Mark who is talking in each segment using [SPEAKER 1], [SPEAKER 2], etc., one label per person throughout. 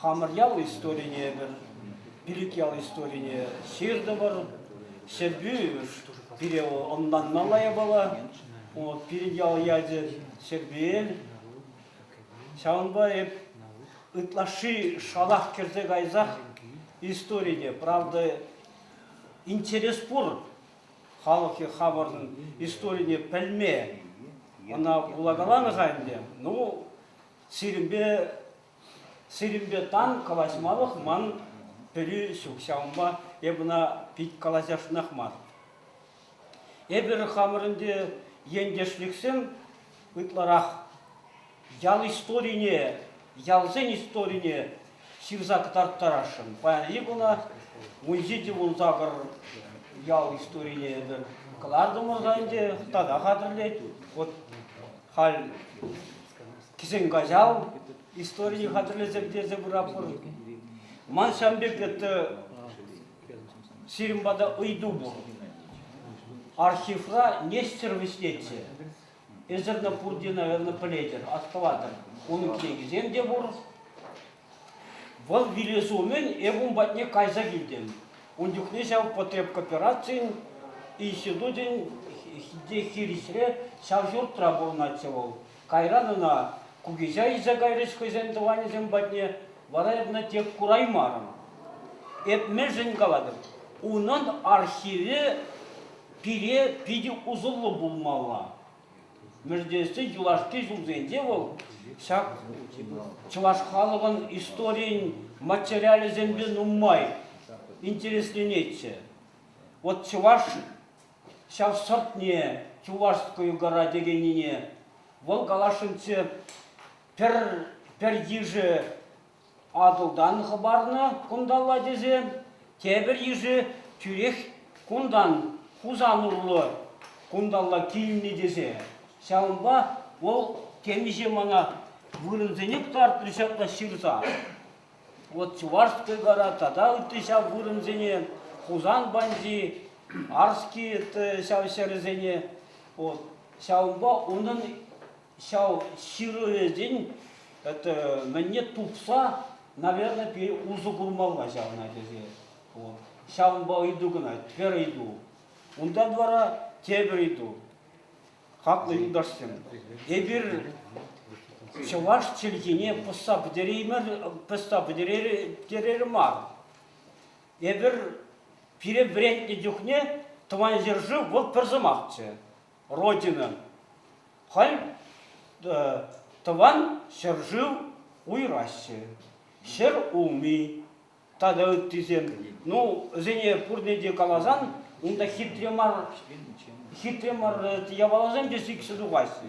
[SPEAKER 1] Хамӑр ял историне эпир, Пилӗк ял историне ҫыртӑпӑр. Ҫӗрпӳ пире ӑнланмалла япала. Пирӗн ял ячӗ Ҫӗрпӳел. Ҫавӑнпа эп ытлашши шалах кӗрсе кайсах историне, правда, интерес пур халӑхӗ хамӑрӑн историне пӗлме. Ӑна вулакаланӑ-ха ӗнтӗ. Ну, сирӗнпе Сирӗнпе тан калаҫмалӑх ман пӗри ҫук, ҫавӑнпа эп ӑна пит калаҫасшӑнах мар. Эпир хамӑр ӗнтӗ ентешлӗхсем ытларах ял историне, ялсен историне ҫырса кӑтарттарасшӑн. Паянхи куна музей те вун сакӑр ял историне эпир кӑлартӑмӑр та ӗнтӗ, тата хатӗрлет. Вот халь Кӗҫӗн каҫал историе хатӗрлесе пӗтерсе пыратпӑр. Ман ҫам пек это сирӗн пата ыйту пур. Архивра Нестер вӗҫлетчӗ. Эсӗр пурте, наверное, пӗлетӗр, астӑватӑр. Унӑн кӗнекисем те пур. Вӑл вилес умӗн эп ун патне кайса килтӗм. Ун чухне ҫав потребкооперацин институтӗн те хирӗҫре ҫав ҫуртра пурӑнатчӗ вӑл. Кайран ӑна кукиҫа илсе кайрӗҫ хӑйсен тӑванӗсем патне, вара эпне тек кураймарӑм. Эп мӗншӗн калатӑп, унӑн архивӗ пире питӗ усӑллӑ пулмалла. Мӗрдессе юлашки ҫулсенче вӑл ҫак чӑваш халӑхӑн историйӗн материалӗсемпе нумай интересленетчӗ. Вот чӑваш ҫав сӑртне Чувашскую гора текеннине вӑл каласшӑнччӗ пӗр пӗр йышӗ Атӑлтан хӑпарнӑ кунталла тесе тепӗр йышӗ тӳрех кунтан Хусан урлӑ кунталла килнӗ тесе. Ҫавӑнпа вӑл темиҫе мана вырӑнсене кӑтартрӗ ҫапла ҫырса. Вот Чувашская гора тата ытти ҫав вырӑнсене, Хусан банди, Арский ҫав ҫӗрӗсене. Вот. Ҫавӑнпа унӑн ҫав ҫырӑвӗсен это, мӗнне тупса, наверное, пире усӑ курмалла ҫавна тесе. Вот. Ҫавӑнпа ыйту кӑна, пӗр ыйту. Унтан вара тепӗр ыйту. Хаклӑ юлташсем, эпир чӑваш чӗлхине пӑсса пӗтереймер мар. Эпир пире вӗрентнӗ чухне тӑван ҫӗршыв вӑл пӗр сӑмахчӗ. Родина. Халь тӑван ҫӗршыв уйраҫҫӗ. Ҫӗр улми тата ыттисем. Ну, вӗсене пурне те каласан, унта хитре мар, хитре мар япаласем те сиксе тухаҫҫӗ.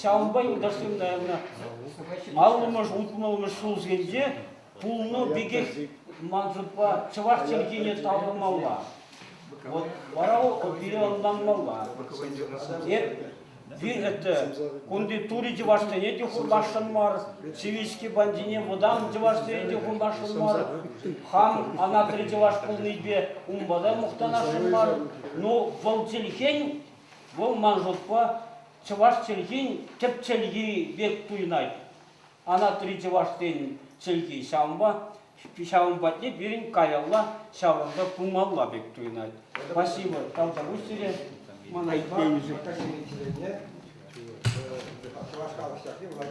[SPEAKER 1] Ҫавӑнпа юлташсем аллӑмӗш, улпӑнӑлмӗш ҫулсенче пулнӑ пекех мансӑпа чӑваш чӗлхине таврӑнмалла. Вот вара переӑнланмалла. Эп это кунти тури чӑвашсене те хумашшӑн мар, сивички бандине вӑтам чӑвашсене те хумашшӑн мар, Хан анатри чӑваш пулнипе унпа та мухтанасшӑн мар. Ну, вӑл чӗлхен, вӑл ман шутпа, чӑваш чӗлхин тӗп чӗлхи пек туйӑнать. Анатри чӑвашсен чӗлхи ҫавӑнпа, ҫавӑн патне пирӗн каялла ҫавӑрса пымалла пек туйӑнать. Спасибо, тавтапуҫ сире. Мана итленӗшӗн. Чӑваш
[SPEAKER 2] халӑх ҫакни вӑл